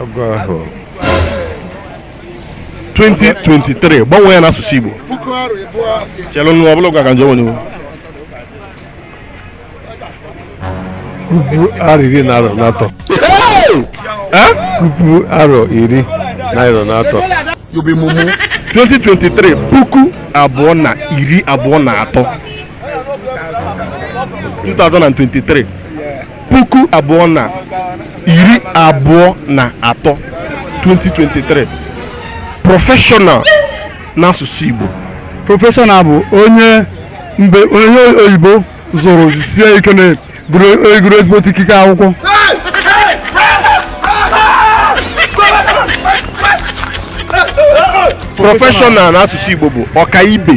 agụ ahụ 2023 gbanwee ya n'asụsụ Igbo chelụ nụ ọbụla ụka ka nje onye puku arọ iri na arọ na atọ puku arọ iri na arọ na atọ 2023 puku abụọ na iri abụọ na atọ 2023 puku abụọ na iri abụọ na atọ 2023 professional n'asụsụ Igbo professional bụ onye mbe onye oyibo zụrụ sie ike na gụrụ ezigbo ikike akwụkwọ professional n'asụsụ Igbo bụ ọkaibe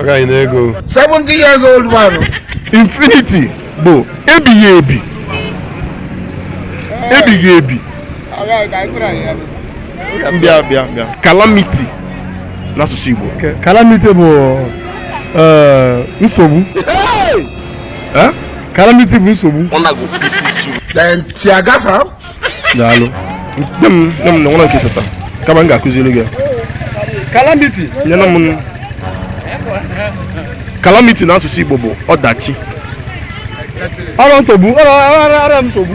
agaghị na-ego 70 years old man infinity bụ ebighị ebi ebighị ebi bịa bịa bịa calamity n'asụsụ Igbo calamity bụ eh, nsogbu eh? calamity bụ nsogbu daalụ nye m nye m na nwere nke seta kama m ga-akụziri gị calamity nyere m calamity n'asụsụ igbo bụ ọdachi ọrụ nsogbu ọrụ ọrụ ọrụ nsogbu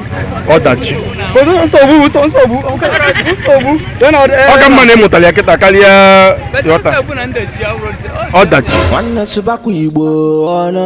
ọdachi Otu nsogbu bụ nsogbu nsogbu nsogbu ya na ọdị ọ ka mma na ị mụtara ya kịta karịa ịghọta ọdachi nwanne sụbakwa igbo ọnụ